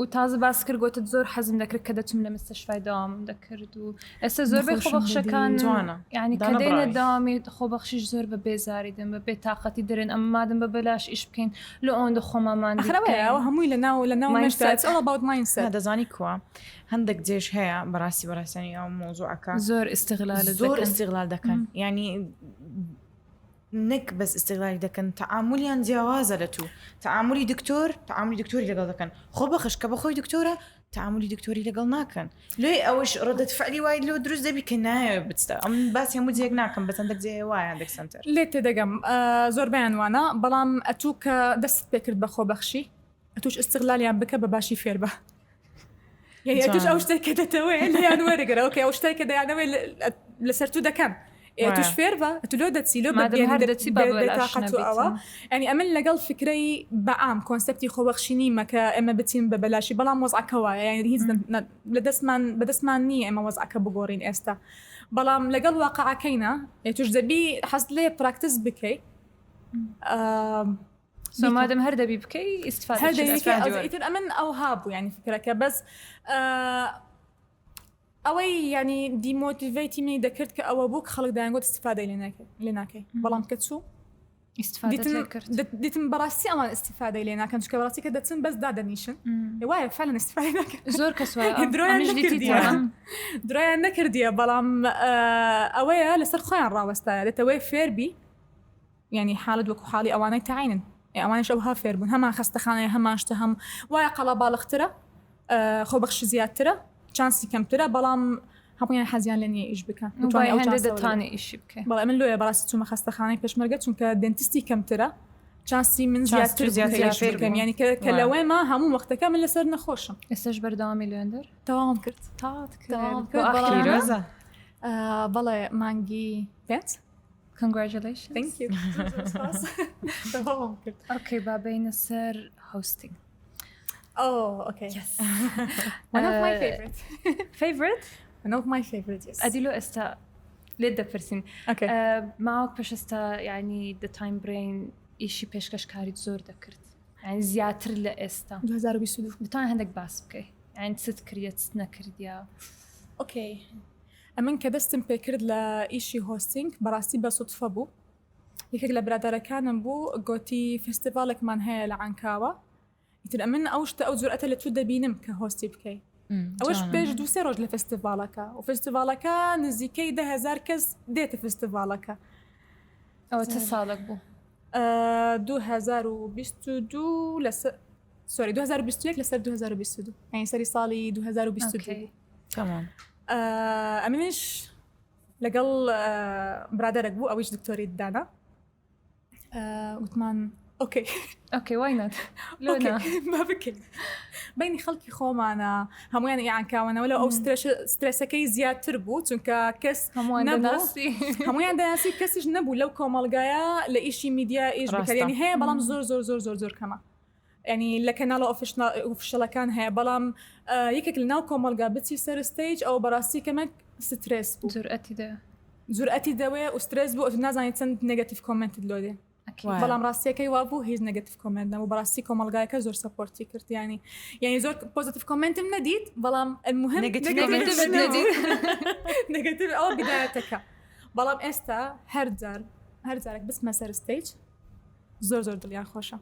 و تازە باس کرد گۆتت زۆر حەزم دەکرد کە دەچم لە مستەشفای داوام دەکرد و ئێستا زۆر بێ خۆبەخشەکان جوانە یعنی کە دێنە داوامی خۆبەخشیش زۆر بە بێزاری دەم بە بێتاقەتی دەرێن ئەم مادم بە بەلاش ئیش بکەین لە ئەوەندە خۆمامان خراوەیەوە هەمووی لە ناو لە ناو ماینسە دەزانی کووە هەندێک جێش هەیە بەڕاستی بەڕاستانی ئەو مۆزوعەکە زۆر ئستغلال زۆر ئستغلال دەکەن ینی نەک بەس ئیستغلالی دەکەن تەعامولیان جیاوازە لە تو تەعامولی دکتۆر تەعامولی دکتۆری لەگەڵ دەکەن خۆبەخش کە بەخۆی دکتۆرە تەعامولی دکتۆری لەگەڵ ناکەن لێ ئەوش ڕدەت فعلی وای لۆ دروست دەبی کە نایە بچتە ئەم باسی هەموو جێک ناکەم بەس هەندێک جێ وایە هەندێک سەنتەر لێت تێدەگەم زۆربەیان وانە بەڵام ئەتوو کە دەستت پێکرد بە خۆبەخشی ئەتوش استغلالیان بکە بە باشی فێربە یعنی ئەتوش ئەو شتێک کە دەتەوێت لیان وەرەگەرە ئەوکە ئەو شتێک کە دەیانەوەی لەسەر تو دەکەن ئێتوش فێر بە تلۆ دەچی لۆ دەچی بەتاقەتەوە ئەنی ئەمن لەگەڵ فکرەی بەام کۆنسپتی خۆبەخشینی مەکە ئێمە بچین بە بەلاشی بەڵام وەزعکەوە یان هیچ لە دەستمان بەدەستمان نییە ئێمە وەزعکە بگۆڕین ئێستا بەڵام لەگەڵ واقعەکەینە ئێتوش دەبی حەز لێ پراکتس بکەیت سۆمادم هەر دەبی بکەی ئیسفادەیتر ئەمن ئەو هابوو ینی فکرەکە بەس ئەوەی ینی دیمۆتیڤیتی منی دەکرد کە ئەوە بوو خەڵک دایانگوت استفادەی لێ ناکەی بەڵام کە چوو دیتم بەڕاستی ئەوان استفادەی لێ ناکەن چکە بەڕاستی کە دەچن بەس دادەنیشن وایە فعلن استفای زۆر کەس درۆیان نەکردیە بەڵام ئەوەیە لەسەر خۆیان ڕاوەستایە دەتەوەی فێربی یانی حالت وەکو حالی ئەوانەی تەعینن ئێ ئەوانیش ئەوها فێربوون هەمان خەستەخانەیە هەمان شتە هەم وایە قەڵاباڵغترە خۆبەخشی زیاترە چانسی کەمترە بەڵام هەمویان حەزیان لە نیە ئیش بکەن دەتوانێت ئیشی بکەن بەڵێ من لۆیە بەڕاستی چوومە خەستەخانەی پێشمەرگە چونکە دەنتستی کەمترە چانسی من زیاتر زیاترکەم ینی کە لەوەی ما هەموو وەختەکە من لەسەر نەخۆشم ئێستش بەردەوامی لێندەر تەواوم کرد تاات بەڵێ مانگی پێت Congratulations ئۆکەی با بینە سەر هۆستنگ فیڤرت ئەدی لۆ ئێستا لێت دەپرسین ماوەک پێشستا ینی دە تایم برین ئیشی پێشکەشکاریت زۆر دەکرد زیاتر لە ئێستا 2022 هەندێک باس بکەیت ئەین چت کریت نەکردیا ئۆکەی ئەمن کە دەستم پێکرد لە ئیشی هۆستینگ بەڕاستی بە سوتفە بوو یەکێک لە برادەرەکانم بوو گۆتی فستیڤالێکمان هەیە لە عانکاوە ئیتر ئەمن ئەو شتە ئەو جورئەتە لە تو دەبینم کە هۆستی بکەی ئەوش پێش دوسێ ڕۆژ لە فستیڤالەکە و فستیڤالەکە نزیکەی دههزار کەس دێتە فستیڤالەکە ئەوە چه ساڵک بوو 2022 لەسەر سۆری 2021 لەسەر 2022 ئەین سەری ساڵی 2022 تمام ئەمنیش لەگەڵ برادەرەك بوو ئەویش دکتۆری دانا وتمان ئۆکەی ئۆکەی وای نەت بکەین بینی خەڵکی خۆمانە هەمویان یانکاوەنەوە لە ئەو سترسەکەی زیاتر بوو چونکە کەس هەمویان دەناسی کەسیش نەبوو لەو کۆمەلگایە لە ئیشی میدیا ئیش بکەێنی هەیە بەڵام زۆر زۆر زۆر زۆر زۆر کەمە یانی لە کەناڵە ئۆفیشەڵەکان هەیە بەڵام یەکێک لەناو کۆمەڵگا بچی سەر ستەیج ئەو بەڕاستی کەمەک سترێس بوو جورئەتی دە جورئەتی دەوێ و سترێس بوو ئەتو نازانی چەند نگەتیف کۆمنتت لۆ دێ بەڵام ڕاستیەکەی وابوو هیچ نگەتیف کۆمنت نەبوو بەڕاستی کۆمەڵگایەکە زۆر سەپۆرتی کردیانی یعنی زۆر پۆزتیف کۆمنتم نەدیت بەڵام المهم نگەتیف ئەو بدایەتەکە بەڵام ئێستا هەرجار هەرجارێک بسمە سەر ستەیج زۆر زۆر دڵیان خۆشە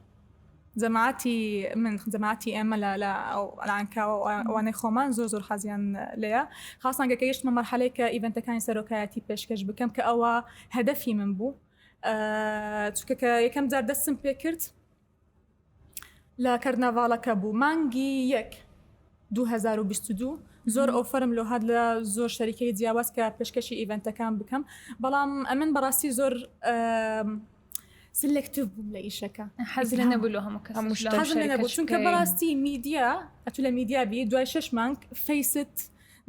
جەماعەتی من جەماعەتی ئێمە لە لە لانکاوە ئەوانەی خۆمان زۆر زۆر حەزیان لێە خاصان گەکە یشتمە مەرحەلەی کە ئیڤنتەکانی سەرۆکایەتی پێشکەش بکەم کە ئەوە هەدەفی من بوو چکە کە یەکەم جار دەستم پێ کرد لە کەرنەڤاڵەکە بوو مانگی یەک 2022 زۆر ئۆفرم لۆ هاات لە زۆر شەریکەی جیاواز کە پێشکەشی ئیڤنتەکان بکەم بەڵام ئەمن بەڕاستی زۆر سلکتیف بووم لە ئیشەکە حەز لە نەبوو لە هەموو کەس هەموو شتە حەز لە نەبوو چونکە بەڕاستی میدیا ئەتو لە میدیا بی دوای شش مانگ فەیست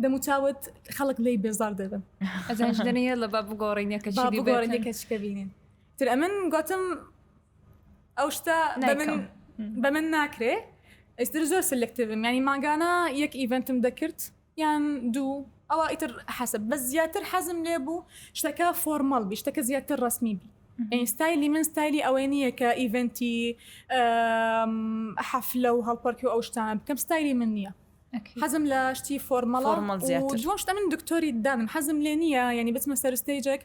دەموچاوت خەڵک لی بێزار دەبن ئەزانش دەنەیە لە با بگۆڕینەکە با بگۆڕینەکە چکە بینین تر ئەمن گوتم ئەو شتە بە من ناکرێ ئێستر زۆر سلکتیف ینی ماگانە یەک ئیڤنتم دەکرد یان دوو ئەوە ئیتر حەسب بەس زیاتر حەزم لێ بوو شتەکە فۆرمەڵ بی شتەکە زیاتر ڕسمی بی ئینستایلی من ستایلی ئەوەی نییە کە ئیڤنتی حەفلە و هەڵپەرکی و ئەو شتانە بکەم ستایلی من نییە حەزم لە شتی فۆرمەڵە دوشتە من دکتۆری دانم حەزم لێ نییە ینی بچمە سەرستەیجێک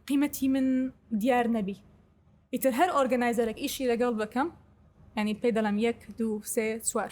قیمەتی من دیار نەبی ئیتر هەر ئۆرگنایزەرێک ئیشی لەگەڵ بکەم ینی پێ دەڵم یەک دوو سێ چوار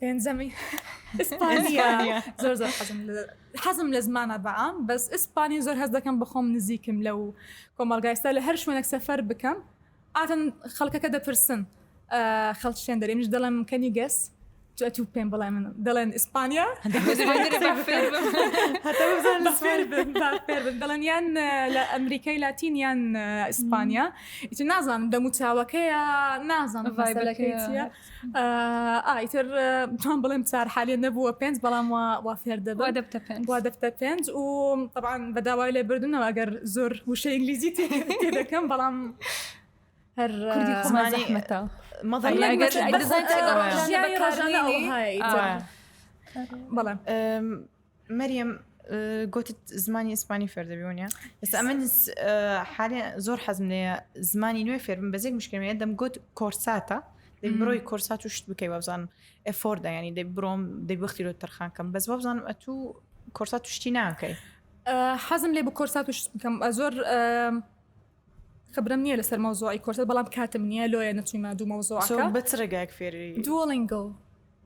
پێنجەمی ئیسپانیا زۆر زۆر حەزم لە- حەزم لە زمانە بەعام بەس ئیسپانی زۆر هەز دەکەم بەخۆم نزیکم لە و کۆمەڵگایستا لە هەر شوێنێک سەفەر بکەم ئاتن خەڵکەکە دەپرسن ئا، خەڵک شتێن دەرێ منیش دەڵێم کەنی گەس جا تو پێم بڵێ من دەڵێن ئیسپانیا هەتا بزانن لە سوێن. بن دەڵێن یان لە ئەمریکای لاتین یان ئیسپانیا ئیتر نازانم دەموچاوەکەیە نازانم ڤایبەکەی ڤایبەکەیە. چییە ئایتر جوان بڵێم چار حالیە نەبووە پێنج بەڵام وا فێر دەبوو دەبتە پێنج وا دەبتە پێنج و طبعاان بەداوای لێ بردنەوە ئەگەر زۆر وشە ئینگلیزی تێ دەکەم بەڵام هەر کوردی خۆمانی حمەتە مەڵ بەڵێ مەریەم گوتت زمانی ئیسپانی فێردەبی ونە ئێستا ئەمن حالێ زۆر حەزم لێ زمانی نوێ فێرم بەزێک مشکلێ دەم گوت کۆرساتە دەی بڕۆی کۆرسات و شت بکەی وابزانم ئەفۆردا ینی دەی بڕۆم دەی بختی لۆ تەرخانکەم بەس وابزانم ئەتوو کۆرسات شتی ناکەی حەزم لێ بە کۆرسات و شت بکەم زۆر خبرەم نیە لەسەر مەوزوعی کۆرسەر بەڵام کاتم نیە لۆیە نەچوویمە دوو مەوزوعەکە بە چ ڕێگایەک فێری دوۆڵینگۆ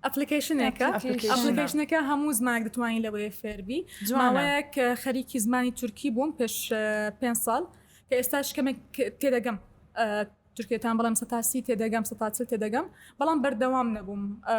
ئەپلیکیشنێکە ئەپلیکیشنە. ئەپلیکیشنەکە هەموو زمانێک دەتوانین لەوەیە فێربی جوانە. ماوەیەک کە خەریکی زمانی تورکی بووم پێش پێ ساڵ کە ئێستاش کەمێک تێدەگەم ئە، تورکێتان بەڵام سەتاسی تێدەگەم سەتاچل تێدەگەم بەڵام بەردەوام نەبووم ئە،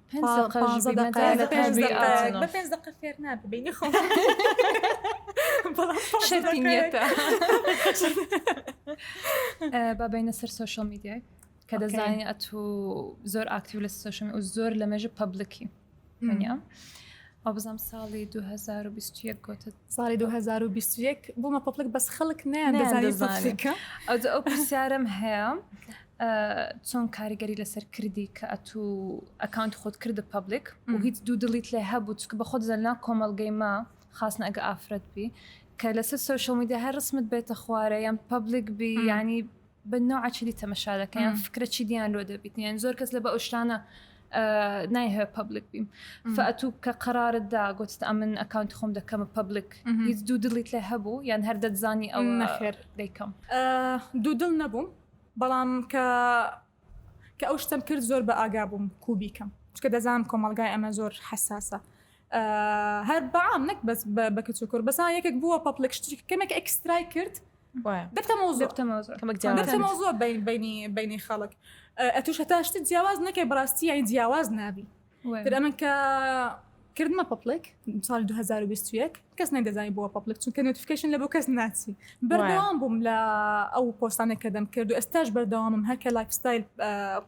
بابینە سەر سوۆشل میدیای کە دەزانین ئەت و زۆر ئاکتیو لە سوۆشن و زۆر لە مێژە پبلکی منە ئەو بزانام ساڵی 2021 گوتت ساڵی 2021 بوومە پبلک بەس خەڵک نیان دەزانانی ئەو پرسیارم هەیە چۆن کاریگەری لەسەر کردی کە ئەتو ئەکانت خۆت کردە پبلیک و هیچ دوو دڵیت لێ هەبوو چکە بە خۆت زەلنا کۆمەلگەی ما خاستن ئەگە ئافرەت بی کە لەسەر سوۆشل میدیا هەر ڕسمت بێتە خوارە یان پبلیک بی ینی بە نوعچلی تەمەشا دەکەیان فکرە چی دییان لۆ دەبیت یان زۆر کەس لە بە ئەوشتانە نایهێ پبلیک بیم فەتوو کە قرارت دا گوتت ئەمن ئەکانت خۆم دەکەمە پبلیک هیچ دوو دڵیت لێ هەبوو یان هەر دەتزانی ئەو نەخێر دەیکەم دوو دڵ نەبووم بەڵام کە کە ئەو شتەم کرد زۆر بە ئاگا بووم کوبیکەم چکە دەزانم کۆمەلگای ئەمە زۆر حساسە هەر بەعام نەک بەس بە کچ و کوور بەسان یەکێک بووە پەپلێک شتی کەمێک ئەکسترای کرد دەبتەمەوزۆ بینی بینی خەڵک ئەتوش هەتاشتی جیاواز نەکەی بڕاستی یای جیاواز نابی تر ئەمن کە کردمە پەپلک ساڵی 2021 کەس نەدەزای بووە پەپلک چونکە نوتفکەشن لە بۆ کەس ناچی بەردەوام بووم لە ئەو پۆستانە کە دەم کرد و ئێستاش بەردەوامم هەرکە لایفستایل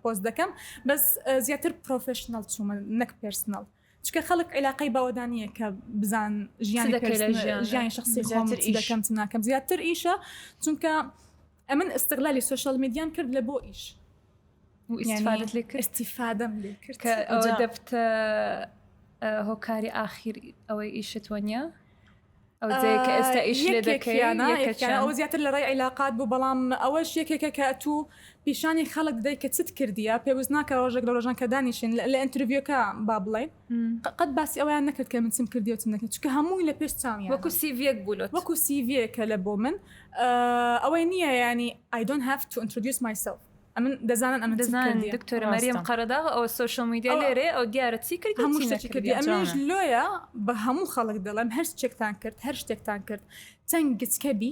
پۆست دەکەم بەس زیاتر پرۆفشنل چوومە نەک پرسنل چکە خەڵک عیلاقی بەوەدانە کە بزان ژیان ژیانی شخصی خۆم دەکەم ناکەم زیاتر ئیشە چونکە ئەمن استغلالی سۆشیال میدیام کرد لە بۆ ئیش ئیسفادت لێ کرد استیفادەم لێ کرد کە ئەوە دەبتە هۆکاری ئاخیر ئەوەی ئیشت وەنیە ئەو جەیەکە ئێستا ئیش لێ دەکەیانە ئەو زیاتر لە ڕێی عیلاقات بوو بەڵام ئەوەش یەکێکە کە ئەتوو پیشانی خەڵک دەی کە چت کردیە پێویست ناکە ڕۆژێک لە ڕۆژان کە دانیشین لە ئەتروڤیەکە با بڵێ قەت باسی ئەوەیان نەکرد کە من چم کردی و چم نەکرد چونکە هەمووی لە پێش چاویان وەکو سیڤیەک بوو لۆت وەکو سیڤیەکە لە بۆ من ئەوەی نییە ینی I don't have to introduce myself ئەمن دەزانن ئەمە دەزانن دکتۆرە مەریەم قەرەداغ ئەوە سۆشیال میدیا لێرێ ئەو دیارە چی کرد هەموو شتێکی کردی ئەمەش لۆیە بە هەموو خەڵک دەڵێم هەر شتێکتان کرد هەر شتێکتان کرد چەند گچکە بی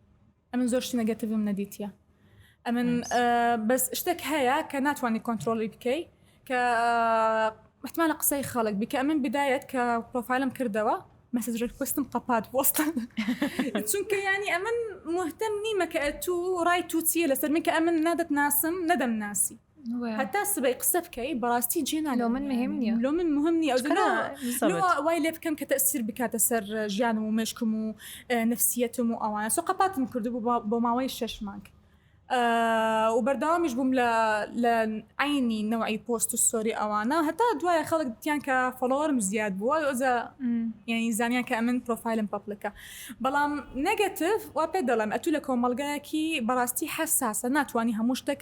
ئەمن زۆر شتی نەگەتیڤم نەدیتیە ئەمن بەس شتێک هەیە کە ناتوانانی کۆنتترۆلی بکەی کە احتمالە قسەی خەڵک بکە ئەمن بدایەت کە پرۆفایلم کردەوە مەسج ڕکوستم قەپات بۆستان چونکە ینی ئەمن مهتم نیمە کە تو ڕای تو چیە لەسەر من کە ئەمن نادەت ناسم نەدەم ناسی هەتا سبەی قسە بکەی بەڕاستی جێ ناگەم لۆ من مهم نییە لۆ من مهم نییە ئەو کەنا سەبت. لۆ وای لێ بکەم کە تەسیر بکاتە سەر ژیانم و مێشکم و اه، نفسیەتم و ئەوانە سۆ قەپاتم کردبوو بۆ- بۆ ماوەی شەش مانگ اه، و بەردەوامیش بووم لە لە عینی نەوعی پۆست و ستۆری ئەوانە هەتا دوایە خەڵک دیتیان کە فۆڵۆوەرم زیاد بووە ئەوجا م. یعنی زانیان کە ئەمن پرۆفایلم پەپلکە بەڵام نەگەتف وا پێ دەڵێم ئەتوو لە کۆمەڵگایەکی بەڕاستی حەساسە ناتوانانی هەموو شتێک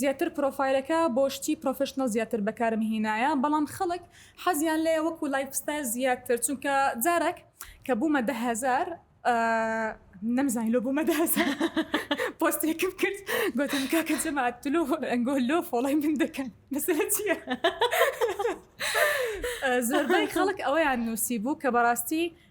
زیاتر پرۆفایلەکە بۆ شتی پرۆفیشنەڵ زیاتر بەکارم هینایە بەڵام خەڵک حەزیان لێیە وەکو لایف ستایل زیاتر چونکە جارەک کە بوومە دە هەزار نەمزانی لۆ بوومە دە هەزار پۆستێکم کرد گوتم کاکە جەماعەت تلۆ ئەنگۆ لۆ فۆڵای من دەکەن مەسەلە چییە زۆربەی خەڵک ئەوەیان نووسی بوو کە بەڕاستی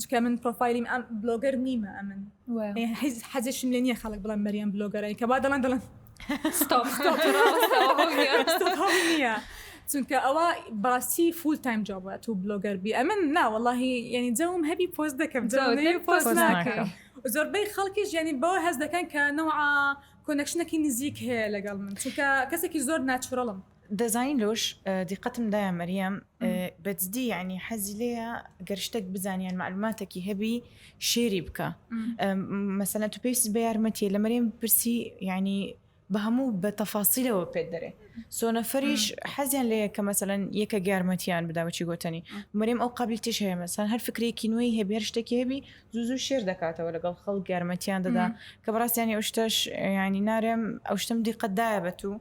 چکە من پرۆفایلیم ئەم بلۆگەر نیمە ئەمن هیچ حەزشم لە نییە خەڵک بڵم مەریەم بلۆگەرای کە با دەڵێن دەڵێن نیە چونکە ئەوە باستی فول تایم جوابە تو بلۆگەر بی ئەمن ناوەڵی یعنی جەوم هەبی پۆست دەکەم پۆست ناکەم زۆربەی خەڵکی ژیانی بەوە هەز دەکەن کە نەوە کۆنەکشنەکی نزیک هەیە لەگەڵ من چونکە کەسێکی زۆر ناچڕڵم دەزانی لۆش دیقەتم دایە مەریەم بەجددی یعنی حەزی لێە گەر شتێک بزانیان معلوماتێکی هەبی شێری بکە مەسەە تو پێست بە یارمەتیە لە مەریم پرسی یعنی بە هەموو بە تەفاسیلەوە پێت دەرێ سۆنەفەریش حەزیان لەیە کە مەسەەن یەکە گارمەتیان بداوەچی گوتنی مەریم ئەو قبلی تش هەیە مەسان هەر فکرێکی نوێی هەبێر شتێکی هەبی زوزو شێر دەکاتەوە لەگەڵ خەڵ گارمەتیان دەدا کە بڕاستیانی ئەو شتەش ینی نارێم ئەو شتم دیقەتدایە بە تو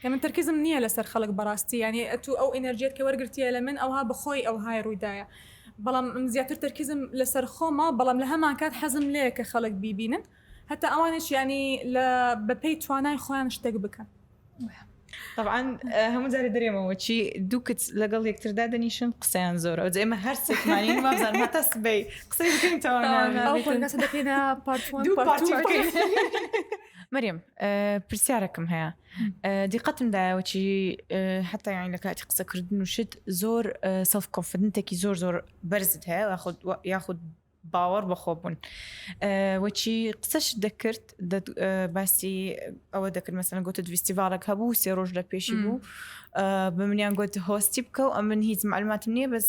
کە من تەرکیزم نیە لەسەر خەڵک بەڕاستی یانی ئەتوو ئەو ئینەرجیەت کە وەرگرتیە لە من ئەوها بەخۆی ئەوهای ڕوویدایە بەڵام من زیاتر تەرکیزم لەسەر خۆمە بەڵام لە هەمان کات حەزم لێیە کە خەڵک بیبینن هەتا ئەوانش یانی لە بەپێی توانای خۆیان شتێک بکەن طبعا هەموو جارێ دەرێمەوە چی دوو کچ لەگەڵ یەکتر دادەنیشن قسەیان زۆرە ئەو ئێمە هەر سێکمانی مازان هەتا سبەی قسەی بکەین تەوانا دەکەینە پارت دوو پارتی بکەین مەریم پرسیارەکەم هەیە دیقەتم دایەوەچی حتا یان لە کاتی قسەکردن و شت زۆر سەف کۆفدنتێکی زۆر زۆر بەرزت هەیە یاخود باوەڕ بەخۆ بوون وەچی قسەش دەکرد باسی ئەوە دەکرد مەسەن گوتت ویستیڤالک هەبوو سێ ڕۆژ لە پێشی بوو بە منیان گوت هۆستی بکە و ئەمن هیچ معلوماتم نییە بەس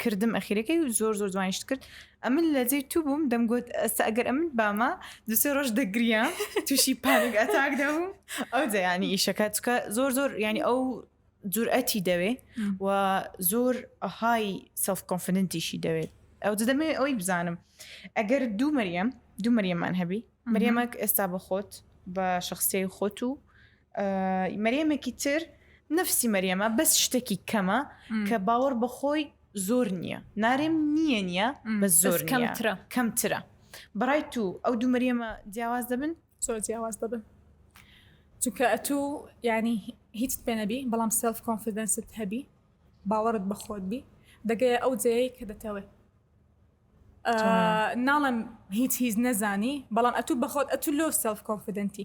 کردم ئەخیرەکەی زۆر زۆر جوانیشت کرد ئەمن لە جێی تو بووم دەمگوت ئەستا ئەگەر ئەمن بامە دو سێ ڕۆژ دەگریام تووشی پانک ئەتاک دەبوو ئەو دەیانی ئیشەکە چکە زۆر زۆر ینی ئەو جورئەتی دەوێ و زۆر های سلف کۆنفدنتیشی دەوێت ئەو دەمێ ئەوی بزانم ئەگەر دوو مەریەم دوو مەریەمان هەبی مەریەمەک ئێستا بە خۆت بە شخصی خۆت و مەریەمێکی تر نفسی مەریەمە بەس شتێکی کەمە کە باوەڕ بەخۆی زۆر نییە نارێم نییە نییە بە زۆر کەمترە کەمترە بەڕای تو ئەو دوو مەریەمە جیاواز دەبن زۆر جیاواز دەبن چونکە ئەتو ینی هیچ پێنەبی بەڵام سلف کۆنفیدەنست هەبی باوەڕت بەخۆت بی دەگەیە ئەو جەیە کە دەتەوێت ناڵم هیچ هیچ نەزانی بەڵام ئەتو بەخۆت ئەتو لۆ سلف کۆنفیدەنتی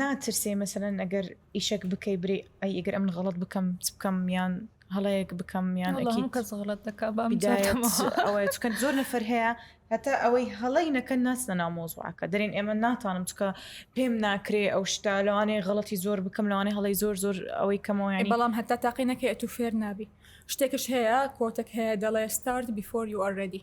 ناترسێی مەسەلەن ئەگەر ئیشەک بکەی برێ ئەی ئەگەر ئەمن غەڵت بکەم چ بکەم یان هەڵەیەک بکەم یان کەس غڵت دەکە ئەوەیە چکە زۆر نەفەر هەیە هەتا ئەوەی هەڵی نەکەن ناچنە نامۆزوعەکە دەرێن ئێمە ناتانم چکە پێم ناکرێ ئەو شتا لەوانەیە غڵەتی زۆر بکەم لەوانێ هەڵی زۆر زۆر ئەوەی کەمەوەیان بەڵام هەتا تاقی نەکەێت و فێر نابی شتێکش هەیە کۆتەک هەیە دەڵێ ستارت بیفۆر یو ئەرێدی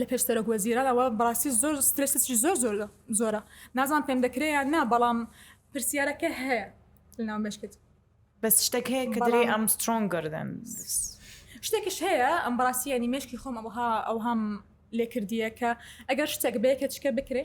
لە پێش سەرۆک وەزیران ئەوە بەڕاستی زۆر سترێسێکی زۆر زۆر زۆرە نازان پێم دەکرێت یان نا بەڵام پرسیارەکە هەیە لەناو مشکت بەس شتێک هەیە کە دەری ئەم سترۆنگ گردن شتێکش هەیە ئەم بەڕاستیانی مشکی خۆم ئەوها ئەوهام لێکردیە کە ئەگەر شتێک بەیەکە چکە بکرێ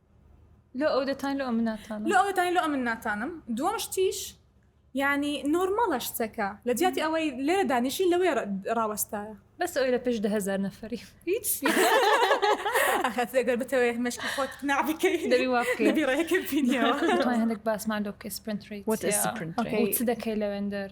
لۆ ئەو دەتان لۆ ئەمن ناتان لۆ ئەو دەتان لۆ ئەمن ناتانم دووەم شتیش ینی نۆرمەڵە شتەکە لە جیاتی ئەوەی لێرە دانیشی لەوێ ڕاوەستایە بەس ئەوی لە پێش دهزار نەفری هیچ ئەخەتگەر بتەوەێت مەشکی خۆت نابکەی دەبی واکەی ڕێکە هەندێک باسمان لۆ بکەی سپرنت ڕیت چ دەکەی لەوێندەر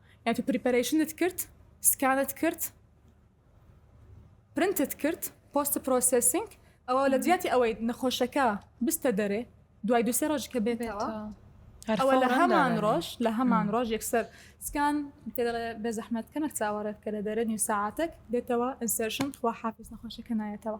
یان تۆ پریپەرەیشنت کرد سکانت کرد پرنتت کرد پۆست پرۆسسینگ ئەوە لە جیاتی ئەوەی نەخۆشەکە بستە دەرێ دوای دوسێ ڕۆژ کە بێتەوە ئەوە لە هەمان ڕۆژ لە هەمان ڕۆژ یەکسەر سکان بێ زەحمەت کەمێک چاوەڕێت کە لە دەرە نیو ساعاتێک دێتەوە ئەسێرشن خوا حافز نەخۆشەکە نایەتەوە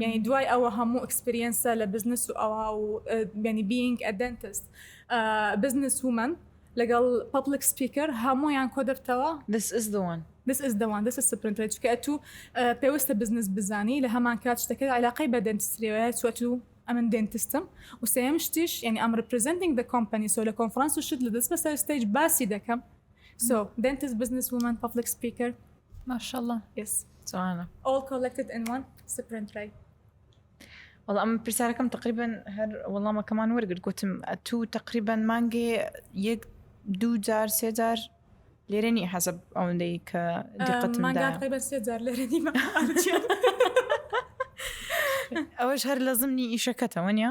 یعنی دوای ئەوە هەموو ئەکسپریەنسە لە بزنس و ئەوا و بینی بینگ ئەدەنتست بزنس ومن لەگەڵ پبلک سپیکەر هەمویان کۆ دەبتەوە دس ئز دەوان دس ئز دەوان دەس سپرنتەر چکە ئەتو پێویستە بزنس بزانی لە هەمان کات شتەکە علاقەی بە دەنتستریەوەە چوەتو ئەمن دەنتستم وسەیەم شتیش یعنی ئەم ڕپرزنتنگ دە کۆمپنی سۆ لە کۆنفرانس و شت لە دەست بەسەر ستەیج باسی دەکەم So dentist business woman public speaker ماشاءاللە yes جوانە all collected in one sprint right وەڵا ئەم پرسیارەکەم تقریبن هەر وەڵامەکەمان وەرگرت گوتم تو تقریبان مانگێ یەک دوو جار سێ جار لێرە نیە حەزب ئەوەندەی کە دقەتمانگاتقریبە سێ جار لێرە نیمە ئەوەش هەر لە زمنی ئیشەکەتەوە نیە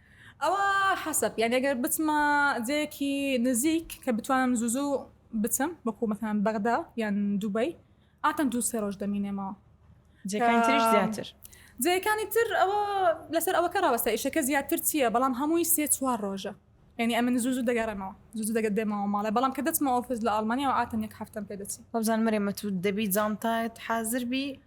ئەوا حەسەب یانی ئەگەر بچمە جێیەکی نزیک کە بتوانم زوو زوو بچم وەکوو مەسەلەن بەغدا یان دوبەی ئاتەن دوو سێ ڕۆژ دەمینێمەوە جێکانی تریش زیاتر جێیەکانی تر ئەوە لەسەر ئەوەکە ڕاوەستە ئیشەکە زیاتر چییە بەڵام هەمووی سێ چوار ڕۆژە یعنی ئەمن زوو زوو دەگەڕێمەوە زوو زوو دەگەت دێمەوە ماڵێ بەڵام کە دەچمە ئۆفیس لە ئاڵمانیا و ئاتەن یەک هەفتەم پێ دەچی وابزانم مەرێمە تو دەبی جانتایت حازر بی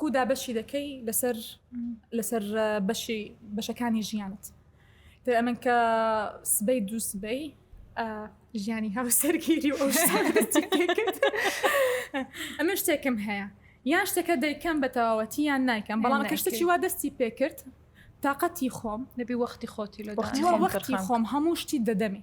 کو دابەشی دەکەی لەسەر لەسەر بەشی بەشەکانی ژیانت تر ئەمن کە سبەی دوو سبەی ژیانی هاو سەرگیری و ئەمە شتێکم هەیە یان شتەکە دەیکەم بە تەواوەتی یان نایکەم بەڵام کەشتەکی وا دەستی پێکرد تااقەتی خۆم نەبی وەختی خۆتی لە وەختی خۆم هەموو شتی دەدەمی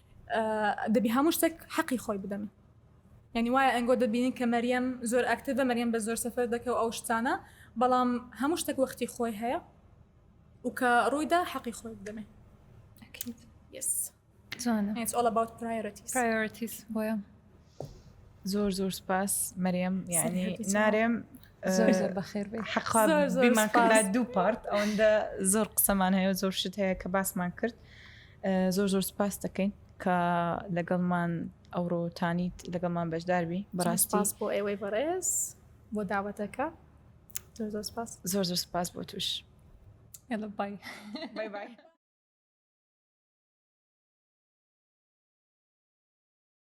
دەبی هەموو شتێک حەقی خۆی بدەن یعنی وایە ئەنگۆ دەبینین کە مەریەم زۆر ئاکتیڤە مەریەم بە زۆر سەفەر دەکە و ئەو شتانە بەڵام هەموو شتێک وەختی خۆی هەیە و کە ڕوویدا حەقی خۆی بدەمێ Yes. It's all about priorities. Priorities بۆیە. زۆر زۆر سپاس مەرێم یعنی نارێم حەقمان دوو پارت ئەوەندە زۆر قسەمان هەیە زۆر شت هەیە کە باسمان کرد زۆر زۆر سپاس دەکەین کە لەگەڵمان ئەوڕۆتانیت لەگەڵمان بەشداربی بەڕاستپاس بۆ ئێوەی بەڕێز بۆ داوەتەکە زۆر زۆر سپاس زۆر زۆر سپاس بۆ توش ئێڵە بای بای بای